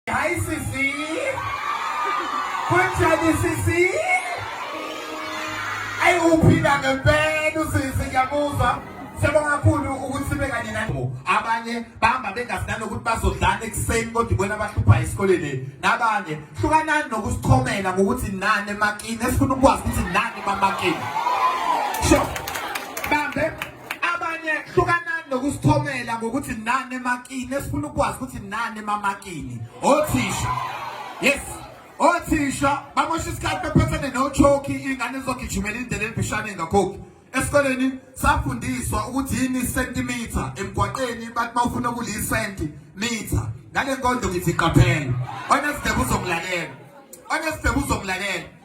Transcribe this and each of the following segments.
Hi sisi. Kunjani sisi? Ayi uphila ngempela usisi ngiyabuzwa. Siyabonga kakhulu ukuthi sibe kanye nabo. Abanye bahamba bengasinani ukuthi bazodlana ekuseni kodwa ibona abahlupha esikoleni. Nabanye hlukanani nokusichomela ngokuthi nani emakini. Esifuna ukwazi ukuthi nani bamakini. Sure. abanye hlukanani nokusithomela ngokuthi nani emakini esifuna ukwazi ukuthi nani emamakini othisha yes othisha bamosha isikhathi bephethene nochoki ingane izogijimela indlela elibishane engakhokhi esikoleni safundiswa ukuthi yini centimeter emgwaqeni bathi bawufuna ukuliyisenti meter ngale nkonzo ngithi qaphela onesibheke uzomlalela onesibheke uzomlalela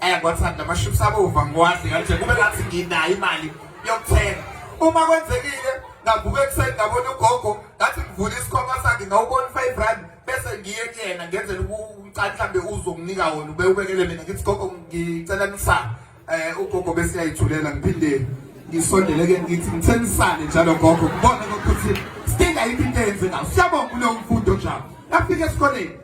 eh kwathanda lamaships abova ngiwadle kanje kube ngathi nginayo imali yokuthenga uma kwenzekile ngavuka ekuseni ngabona ugogo ngathi ngivula isikhwama sakhe ngawubona i-five rand bese ngiye kuyena ngenzela ukucala mhlambe uzonginika wona ube ubekele mina ngithi gogo ngicela nisa eh ugogo bese yayithulela ngiphinde ngisondele ke ngithi ngitsenisane njalo gogo kubona ukuthi sidinga into into eyenze ngayo siyabonga kuleyo mfundo njalo afike esikoleni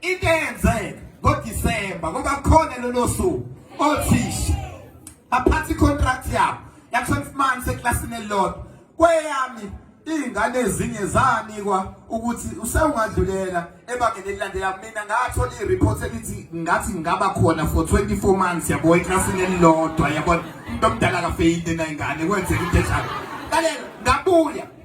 Into eyenzeka ngoDisemba ngoba khona lolo suku othisha baphatha icontract yabo ya-12 months eklasini elilodwa kweyami iy'ngane ezinye zanikwa ukuthi usewungadlulela ebangeni elilandela mina ngathola i-report elithi ngathi ngingaba khona for 24 months yabo eklasini elilodwa yabona umuntu omdala akafeyile nayingane kwenzeka into enjalo lalela ngabuya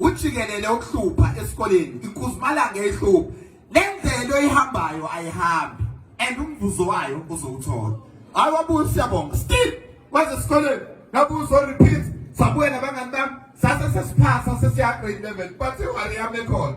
ujikelele ukuhlupha esikoleni ikhuzimalanga ehlupha lendlela oyihambayo ayihambi and umvuzo wayo uzowuthola hayi wabuya siyabonga still waze esikoleni ngabuya uzo repeat sabuya nabangani bami sase sesiphasa sesiyagrade level but iwari yami ekhona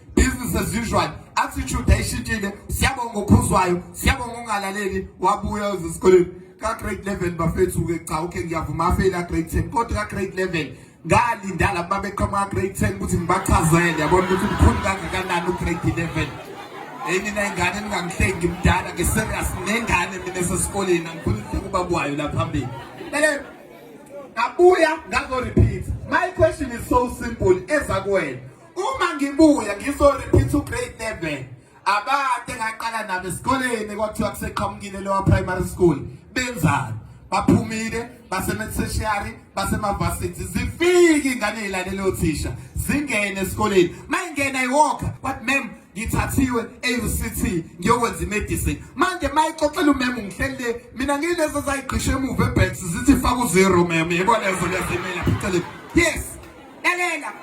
business as usual attitude ayishintile siyabonga uphuzwayo siyabonga ungalaleli wabuya ezikoleni ka grade 11 bafethu ke cha okay ngiyavuma afela grade 10 kodwa ka grade 11 ngalinda laba beqhamuka ka grade 10 ukuthi ngibachazele yabona ukuthi mkhulu kangakanani u grade 11 hey mina ingane ningangihlengi mdala ke serious nengane mina esesikoleni angifuni ukuba kwayo la phambili lele ngabuya ngazo repeat my question is so simple eza kuwena Uma ngibuya ngizorepeat ugrade 11 abade ngaqala nabo esikoleni kwathiwa kuseqhamukile lowa primary school benzani baphumile basemeteshiyari basemavasithi zifike ingane yilalele othisha zingene esikoleni mayingena iwalker but mem ngithathiwe e-uct ngiyokwenza imedicine manje mayixoxela umem ngihleli le mina ngiyilezo zayigqisha emuva ebheks zithi faka uzero mem yebo lezo lezimela pheceleni yes lalela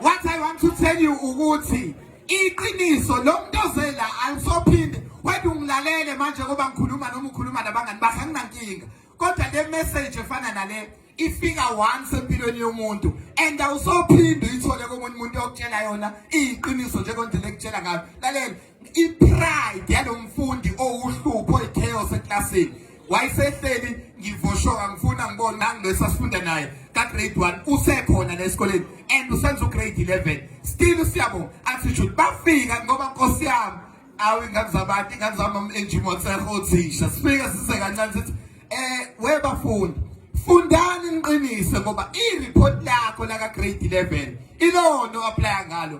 what i want to tell you ukuthi iqiniso lo muntu ozela alisophinde wethu ungilalele manje ngoba ngikhuluma noma ukhuluma nabangani bakhe anginankinga kodwa le message efana nale ifika once empilweni yomuntu and awusophinde uyithole komunye umuntu okutshela yona iyiqiniso njengondlela ekutshela ngayo lalela ipride yalomfundi owuhlupho ichaos eclassini wayesehleli ngivoshoka ngifuna ngibona nangilesa sifunda naye ka grade 1 usekhona la esikoleni and usenza ugrade 11 still siyabo attitude bafika ngoba nkosi yami awu ingane zabantu ingane zami enjimotseho othisha sifike size kancane sithi eh we bafundi fundani niqinise ngoba i-report lakho laka grade 11 ilona oaplaya ngalo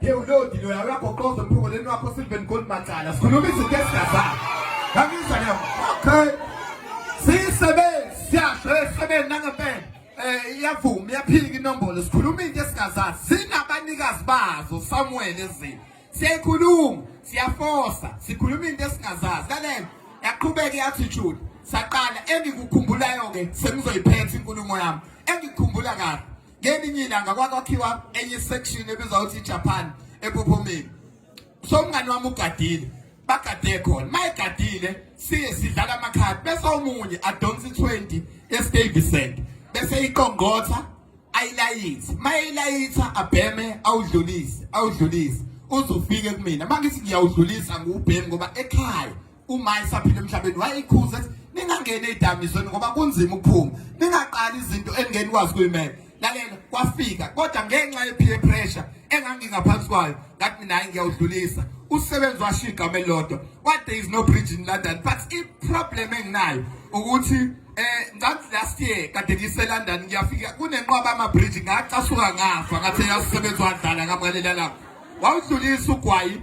Hey ulodi lo yakho qozo mphoko leni wakho Sylvan Gold Macala. Sikhuluma izinto esingazazi. Ngangizwa ke. Okay. Sisebenzi siyasho esebenzi nangempela. Eh iyavuma iyaphika inombolo sikhuluma into esingazazi. Sinabanikazi bazo Samuel ezini. Siyayikhuluma, siyafosa, sikhuluma into esingazazi. Lalela. Yaqhubeka yathi Jude. Saqala engikukhumbulayo ke sengizoyiphetha inkulumo yami. Engikukhumbula kahle. ngelinye ilanga kwakwakhiwa enye section ebizwa ukuthi Japan ePophomeni so umngani wami ugadile bagade khona mayegadile siye sidlala amakhadi bese omunye adonsa i20 eStable Center bese iqongqotha ayilayitha mayilayitha abheme awudlulise awudlulise uzofike kumina mangithi ngiyawudlulisa ngubhemi ngoba ekhaya uma esaphila emhlabeni wayeyikhuza ethi ningangeni ey'dakamizweni ngoba kunzima ukuphuma ningaqali izinto engeni kwazi kuyimela lalela kwafika kodwa ngenxa ye-peer pressure engangingaphansi kwayo ngathi mina hayi ngiyawudlulisa usebenzi washo igama elilodwa what there is no bridge in london but i-problem enginayo ukuthi eh ngathi last year kade ngiseLondon ngiyafika kunenqwaba amabridge ngacasuka ngafa ngathi yasebenza wadlala ngamalelela lapho wawudlulisa ugwayi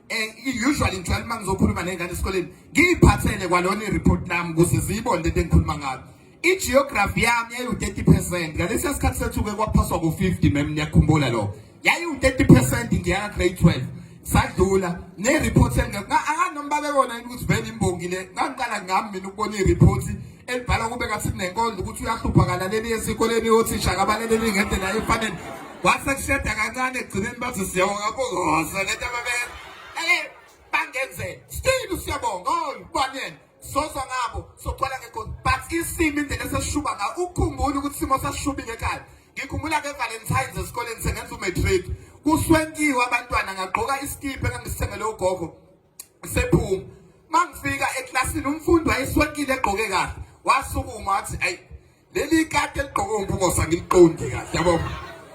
Eh, usually ngithwala uma ngizokhuluma nengane esikoleni ngiyiphathele kwalona i-report lami ukuze ziyibone lento engikhuluma ngayo i-geography yami yayiwu-30 percent ngalesiya sikhathi sethu-ke kwaphaswa ku-50 mem niyakhumbula lokho yayiwu-30 percent ngiyaka grade 12 sadlula ne-report engekho anganomba bebona yini ukuthi vele imbongi le ngangiqala ngami mina ukubona i-report elibhala kube kathi nenkondlo ukuthi uyahlupha kalaleli esikoleni othisha kabaleleli ngendlela efanele wase kusheda kancane egcineni bathi siyabonga kuhosa lento ababenza eh bangenze still siyabonga oh banene soza ngabo soqala ngenkondlo but isimo indlela eseshuba nga ukukhumbula ukuthi simo sashubile ekhaya ngikhumbula ke valentines esikoleni sengenza umatric kuswenkiwe abantwana ngagqoka isikiphe engangisithengele ugogo sephuma mangifika eklasini umfundi wayeswenkile egqoke kahle wasukuma wathi ayi leli kati eligqoke umpungose angiliqondi kahle yabo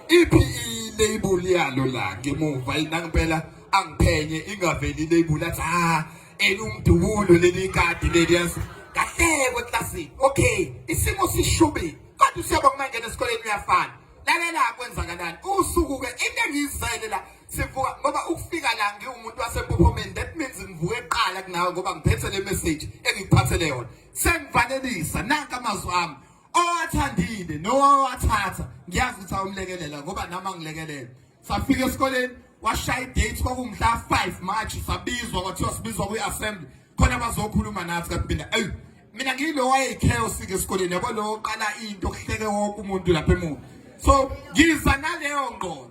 iphi i-label yalo la ngemuva inangempela angiphenye ingaveli i-label athi ha elumdubulo leli kati leli yazi kahleko eklasini okay isimo sishubile kodwa usiyaba kumangena esikoleni uyafana lalela kwenzakalani usuku-ke into engiyizele la sivuka ngoba ukufika la ngiwumuntu waseMpophomeni that means ngivuke eqala kunawe ngoba ngiphethe le message engikuphathele yona sengivalelisa nanka amazwi ami owathandile nowawathatha ngiyazi ukuthi awumlekelela ngoba nami angilekelela safika esikoleni washaya idate kwakumhla 5 March sabizwa kwathiwa sibizwa kwi-assembly khona bazokhuluma nathi kanti mina eyi mina ngiyilo wayeyi-chaos ke esikoleni yabo lo oqala into kuhleke wonke umuntu lapha emuva so ngiza naleyo ngqondo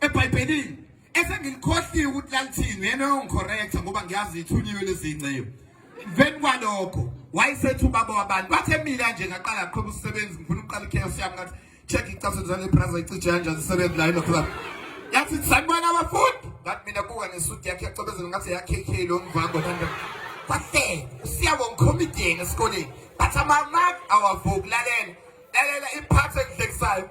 ebhayibhelini esengilikhohliwe ukuthi lalithini yena uyongikhorektha ngoba ngiyazi ithunyiwe lezinceyo emveni kwalokho wayesethi ubaba wabantu bathe mina nje ngaqala aqhuba usebenzi ngifuna ukuqala ikheyos yami ngathi check icase njalo ibraza icije kanjani isebenzi la yilokho lapho yathi sanibona abafundi ngathi mina kuka nesuti yakhe yacobezela ngathi yakk lo mvango nanda kwase usiyabo ngicomedian esikoleni but amamaki awavukulalela lalela iphathi engihlekisayo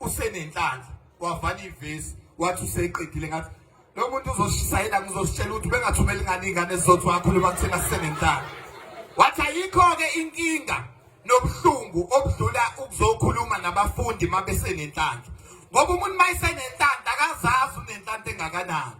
usenenhlanhla wavala ivesi wathi useqedile ngathi lo muntu uzoshayela ngizositshela ukuthi bengathumela ingane ingane zizothu wakhuluma kuthina sisenenhlanhla wathi ayikho-ke inkinga nobuhlungu obudlula ukuzokhuluma nabafundi uma besenenhlanhla ngoba umuntu uma esenenhlanhla akazazi unenhlanhla engakanani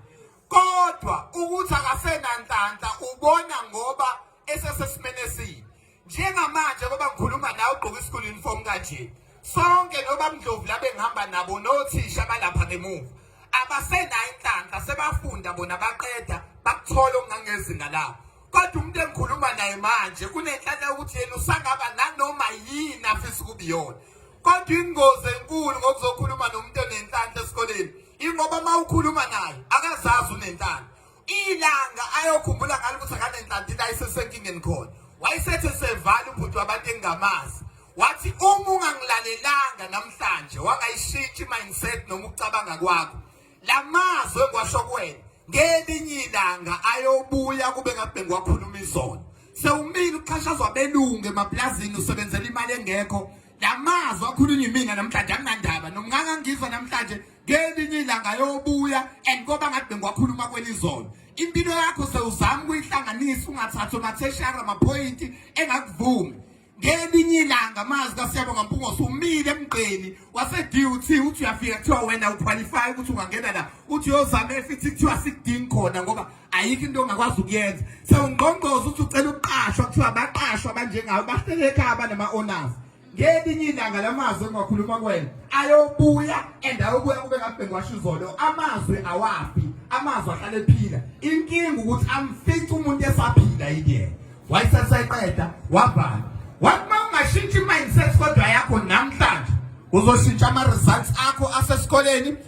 kodwa ukuthi akasenanhlanhla ubona ngoba esesesimene esibi njengamanje ngoba ngikhuluma nawe ugqoke i-school uniform kanje sonke noba mndlovu labe ngihamba nabo nothisha balapha ngemuva abasenayo inhlanhla sebafunda bona baqeda bakuthola okungangezinga labo kodwa umuntu engikhuluma naye manje kunenhlanhla yokuthi yena usangaba nanoma yini afisa ukubiyona kodwa ingozi enkulu ngokuzokhuluma nomuntu onenhlanhla esikoleni ingoba uma ukhuluma naye akazazi unenhlanhla ilanga ayokhumbula ngalo ukuthi akanenhlantina ayisesenkingeni khona wayesethe sevala ubhuti wabantu engingamazi wathi uma ungangilalelanga namhlanje wangayishintshi mindset noma ukucabanga kwakho lamazwe kwasho kwena ngelinye ilanga ayobuya kube ngabe ngiwakhuluma izona sewumile uxhashazwa belungu emaplazini usebenzela imali engekho lamazwi akhulunywa imina namhlanje anginandaba nomngaka ngizwa namhlanje ngelinye ilanga yobuya and koba ngathi bengiwakhuluma kwelizolo impilo yakho sewuzama ukuyihlanganisa ungathathi omatheshara amaphoyinti engakuvumi ngelinye ilanga amazwi kasiyabonga mpungosi umile emgqeni wase-dut uthi uyafika kuthiwa wena uqualify ukuthi ungangena la uthi yozama efithi kuthiwa sikudingi khona ngoba ayikho into ongakwazi ukuyenza sewungqongqoza uthi ucela ukuqashwa kuthiwa abaqashwa abanjengayo bahlele ekhaya banama-owners ngelinye ilanga la mazwi engiwakhuluma kwena ayobuya and ayobuya kube ngabhengwasho izolo amazwi awafi amazwi ahlale ephila inkinga ukuthi amfice umuntu esaphila yikuyena wayeseseqeda wavala wathi uma ungashintsha i-mindset kodwa yakho namhlanje uzoshintsha ama-results akho asesikoleni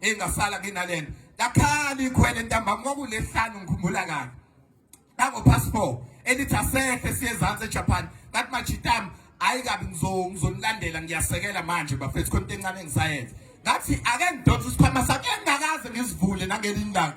engasala kinalena lakhali ikhwele ntambama kwakulehlanu ngikhumbula kabi lango-passport elithi asehle siye ezansi ejapan ngathi majitami hayi kabi ngizonilandela ngiyasekela manje bafethu khona into encane engisayenza ngathi ake ngidonse isikhwama sakhe engakaze ngisivule nangelinye ilanga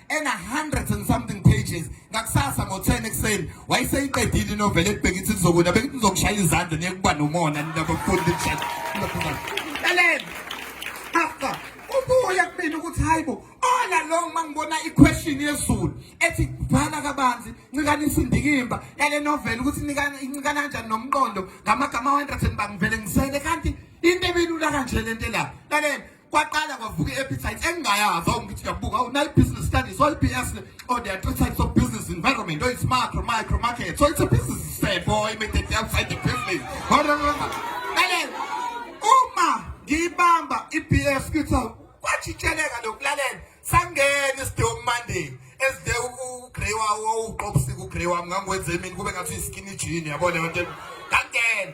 ena hundreds and something pages ngakusasa ngo-10 ekuseni wayeseyiqedile inoveli ebheka ithi lizokuna bekithi lizokushaya izandla niyekuba nomona ninabafundi laleni after ah, ah. ubuya kumina ukuthi hayi bo ola lo uma ngibona iquestion yezulu ethi bhala kabanzi ncinkanisa indikimba yale noveli ukuthi incikana kanjani nomqondo ngamagama 100 bangivele ngisele kanti into ebelula kanje lento la laleni kwaqala kwavuka i-appetite engingayazi awungithi uyabuka awu nayi business studies oyi BS or there are three types of business environment or it's macro micro market so it's a business say boy immediately outside the business kale uma ngiyibamba i-BS kuthi kwajitsheleka lokulalela sangena isidewu Monday ezide ugrey wawo uqopsika ugrey wami ngangwenze mina kube ngathi iskinny jean yabona yonke ngangena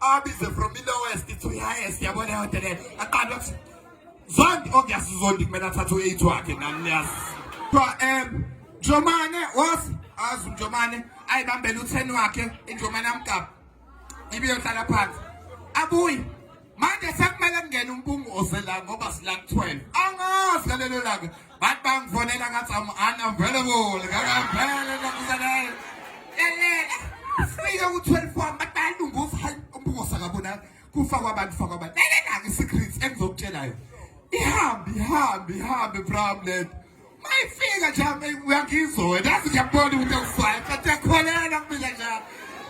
abize from the lowest to the highest yabona leyo nto leyo aqale ukuthi zondi obviously zondi kumele athathe u-eight wakhe nani niyazi kuthiwa um njomane wosi azi umjomane ayibambele u-ten wakhe injomane amgaba ibiyohlala phansi abuye manje sekumele kungene umpungu osela ngoba sila ku-twelve angazi ngalelo langa Bathi bangifonela ngathi I'm unavailable. Ngakampela nakusanele. Elele. Sifike ku-12 wami bathi bayalunguza hayi umbukosa kabonani. Kufa kwabantu fa kwabantu. Lelelanga i-secrets engizokutshela yona. Ihambe ihambe ihambe problem. Mayifika nje hamba uyangizwa wena. Yazi ngiyabona ukuthi awusayi. Kanti yakholelwa kumina nje.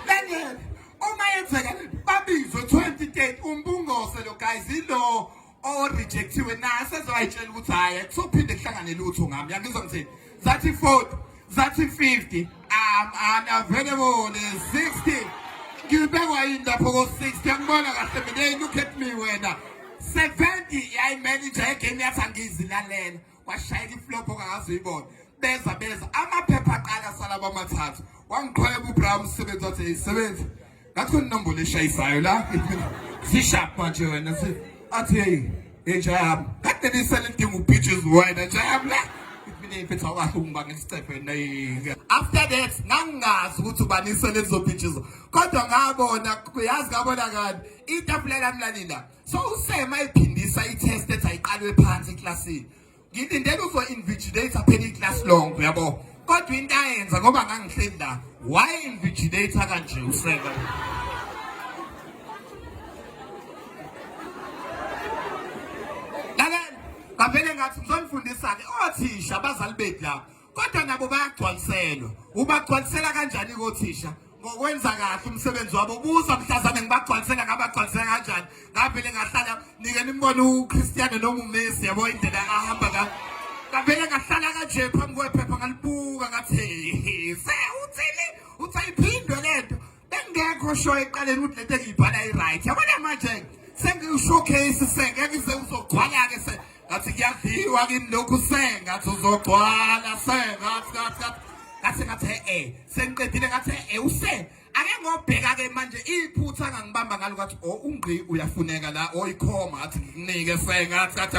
Lelele. Uma yenzeka babizwe 2030 umbungose lo guys ilo orejectiwe naye sezoyitshela ukuthi hhayi akusophinde kuhlangane lutho ngami yangizwa ngithini zathi 40 zathi 50 am unavailable 60 ngibekwa yini lapho ko-60 angibona kahle mina look at me wena 70 yayimanager yegame yathi angizilalela washayela iflopho kangazi uyibona beza beza amaphepha aqala sala kwamathathu wangiqhweba uBrown umsebenzi wathi yisebenzi ngathi kuninombolo eshayisayo la zishap manje wena si athi hey entsha yami kade nisele idinga ubitches wena nje yami la mina iphetha kwahle ungibanga isicephe nayike after that ngangazi ukuthi ubanisele lezo bitches kodwa ngabona uyazi ngabona kani itafula lami lalila so usema iphindisa i-test ethi ayiqalwe phansi eklasini ngilindele uzo-invigilator phela iclass long uyabo kodwa into ayenza ngoba ngangihleli la waye-invigilator kanje usema ngavele ngathi ngizonifundisa-ke othisha abazali bethu lapho kodwa nabo bayagcwaliselwa ubagcwalisela kanjani kothisha ngokwenza kahle umsebenzi wabo buza mhlazane ngibagcwalisela ngabagcwalisela kanjani ngavele ngahlala nike nimbone uChristiano noma uMessi yabo indlela ahamba ka ngavele ngahlala kanje phambi kwephepha ngalibuka ngathi se uthini uthayiphindwe lento Bengekho sho eqaleni ukuthi lento engiyibhala i-right. Yabona manje sengiwushowcase sengeke se uzogcwala-ke se ngathi kuyadliwa kimi lokhu sengathi uzogcwala sengathi ngathi ngathi ngathi ngathi e-e sengiqedile ngathi e-e use ake ngobheka-ke manje iphutha ngangibamba ngalo ngathi o oh, ungqi uyafuneka la oyikhoma oh, ngathi ngikunike sengathi ngathi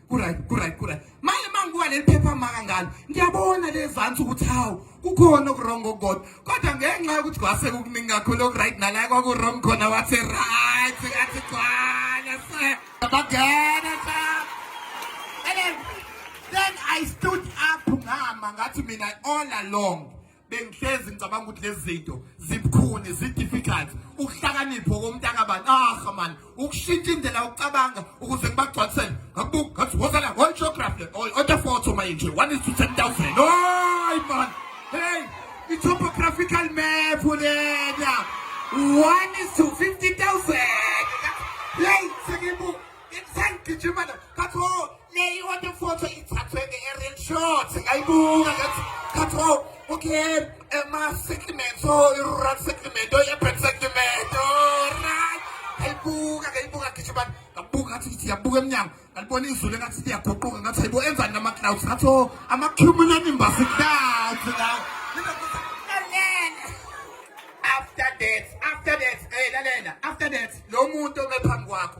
Kuray, kuray, kuray. Manje mangibuka leli phepha maka ngalo. Ngiyabona lezansi ukuthi hawu kukhona okuwrong okukodwa. Kodwa ngenxa yokuthi kwase kukuningi kakhulu okuright nala kwakuwrong khona wathi right athi gcwala se. Bagena cha. And then, then I stood up ngama ngathi mina all along bengihlezi ngicabanga ukuthi lezi zinto zibukhuni zi-difficult ukuhlakanipho komuntu akabani aha mani ukushintsha indlela yokucabanga ukuze ngibagcwalisele ngakubuka ngathi wozala one geography othe foto mayinje one is to ten thousand oy man hey i-topographical map lena one is to fifty thousand hey sengibu sengigijimana ngathi Leyi othi photo ithathwe nge-Arian short ngayibuka ngathi ngathi wow okay ama-segment o i-rural segment o i-urban segment o right ngayibuka ngayibuka gijimani ngabuka ngathi ngithi yabuka emnyango ngalibona izulu engathi liyaguquka ngathi hayibo enzani nama-clouds ngathi o ama-cumulonimbus clouds la after that after that hey lalela after that lo muntu obephambi kwakho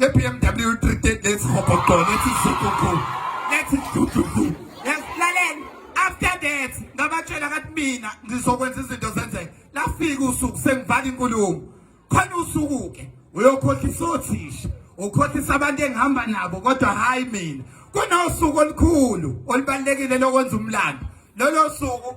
nge-bmw 330 lethi hobhoqo lethi sukuku lethi dududu lalela after that ngabatshela kathi mina ngizokwenza izinto zenzeke lafika usuku sengivala inkulumo khona usuku-ke uyokhohlisa othisha ukhohlisa abantu engihamba nabo kodwa hhayi mina kunosuku olukhulu olubalulekile lokwenza umlando lolo suku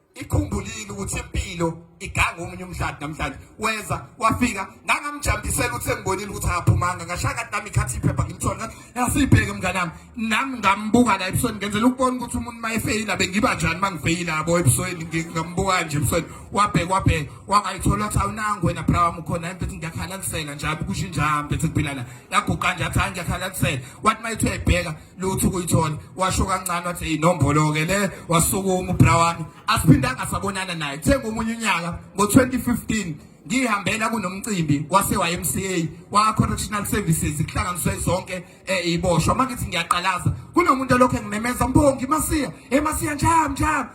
ikhumbulile ukuthi impilo iganga omunye umdlali namhlanje weza wafika ngangamjambisela ukuthi engibonile ukuthi akaphumanga ngashaya kade nami ikhathi iphepha ngimthole yasibheke mngane wami nami ngambuka la ebusweni ngenzela ukubona ukuthi umuntu uma efeyila bengiba njani uma ngifeyila yabo ebusweni ngambuka nje ebusweni wabheka wabheka wangayithola ukuthi awunangu wena bra wami ukhona yami bethi ngiyakhalalisela njalo kusho injalo bethi kuphila la yaguqa nje athi hayi ngiyakhalalisela wathi uma ethi uyayibheka lutho ukuyithola washo kancane wathi inombolo-ke le wasukuma ubra wami asiphindanga sabonana naye kuthenga omunye unyaka ngo-2015 ngihambela kunomcimbi wase-YMCA wa-correctional services kuhlanganiswe zonke um eh, iboshwa uma ngithi ngiyaqalaza kunomuntu olokhu engimemeza mbongi masiya emasiya eh, njam njam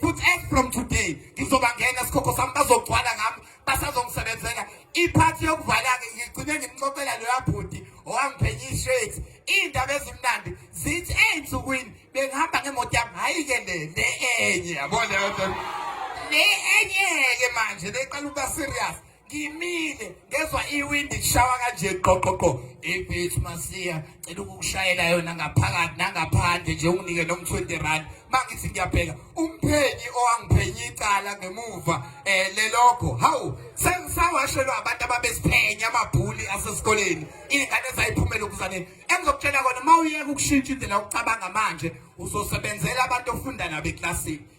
futhi as from today ngizobangena sikhokho sami bazogcwala ngami basazongisebenzela iphathi yokuvala-ke ngigcine ngimxoxela loya bhuti owangiphenye i-shirt iy'ndaba ezimnandi zithi ey'nsukwini bengihamba ngemoto yami hhayi-ke le le enye yabona le enye-ke manje leqala ukuba serious ngimile ngezwa iwindi lishawa kanje qoqoqo ebethu masiya cela ukukushayela yona ngaphakathi nangaphandle nje unginike noma 20 rand mangithi ngiyabheka umphenyi owangiphenye icala ngemuva eh lelokho hawu sengisawashelwa abantu ababesiphenya amabhuli asesikoleni ingane zayiphumela ukuzane engizokutshela kona mawuyeka ukushintsha indlela yokucabanga manje uzosebenzela abantu ofunda nabo eklasini